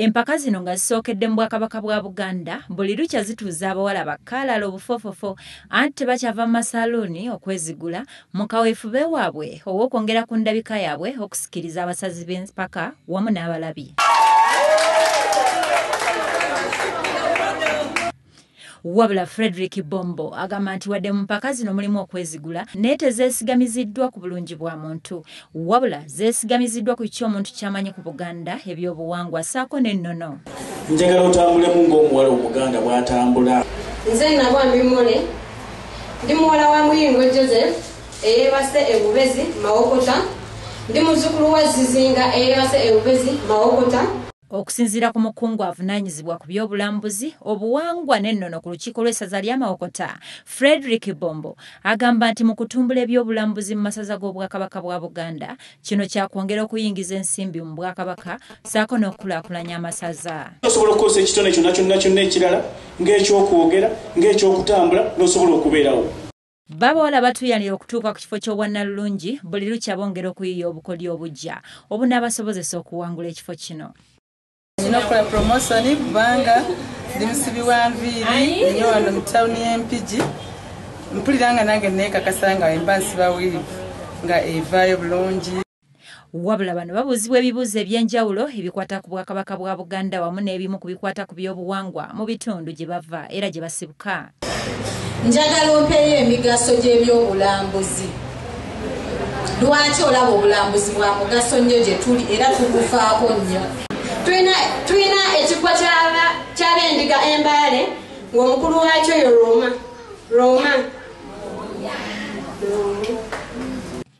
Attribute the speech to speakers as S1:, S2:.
S1: Empaka zino nga zisookedde mu Bwakabaka bwa Buganda, buli lukya zituuza abawala bakaalala obufofofo anti tebakyava mu masaaluuni okwezigula mu kaweefube waabwe ow'okwongera ku ndabika yaabwe okusikiriza abasazi b'empaka wamu n'abalabi. Wabula Fredrick Bombo agamba nti wadde mu mpaka zino mulimu okwezigula naye tezeesigamiziddwa ku bulungi bwa muntu wabula zeesigamiziddwa ku kiki omuntu kyamanyi ku Buganda ebyobuwangwa saako n'ennono. Njagala otambulemu
S2: ng'omuwala Omuganda bw'atambula. Nze Nabwa
S3: Mimule, ndi muwala wa Muyingo Joseph eyeebase e Bubezi Mawokota. Ndi muzzukulu wa Zizinga eyeebase e Bubezi Mawokota. Okusinziira ku
S1: mukungu avunaanyizibwa ku by'obulambuzi, obuwangwa n'ennono ku lukiiko lw'essaza lya Mawokota, Fredrick Bombo agamba nti mu kutumbula eby'obulambuzi mu masaza g'Obwakabaka bwa Buganda, kino kyakwongera okuyingiza ensimbi mu Bwakabaka ssaako n'okukulaakulanya amasaza. Osobola okukozesa ekitone
S2: kyonna kyonna kyonna ekirala ng'ekyokwogera, ng'ekyokutambula n'osobola okubeerawo. Babawala
S1: batuyanira okutuuka ku kifo ky'obwannalulungi buli lukya bongera okuyiiya obukodyo obugya obunaabasobozesa okuwangula ekifo kino. Nina okukola
S4: puromosoni kubanga ndi musibi wa nviiri nyo wano mu tawuni y'Empigi. Mpulira nga nange neekakasa nga wemba nsiba wiivu nga evaayo bulungi. Wabula
S1: bano babuuzibwa ebibuuzo eby'enjawulo ebikwata ku Bwakabaka bwa Buganda wamu n'ebimu ku bikwata ku by'obuwangwa mu bitundu gye bava era gye basibuka. Njagala
S5: ompeeyo emigaso gy'ebyobulambuzi. Lwaki olaba obulambuzi bwa mugaso nnyo gye tuli era tugufaako nnyo? Tulina ekikwa ky'abendiga embaale ng'omukulu waakyo yo Roma. Roma.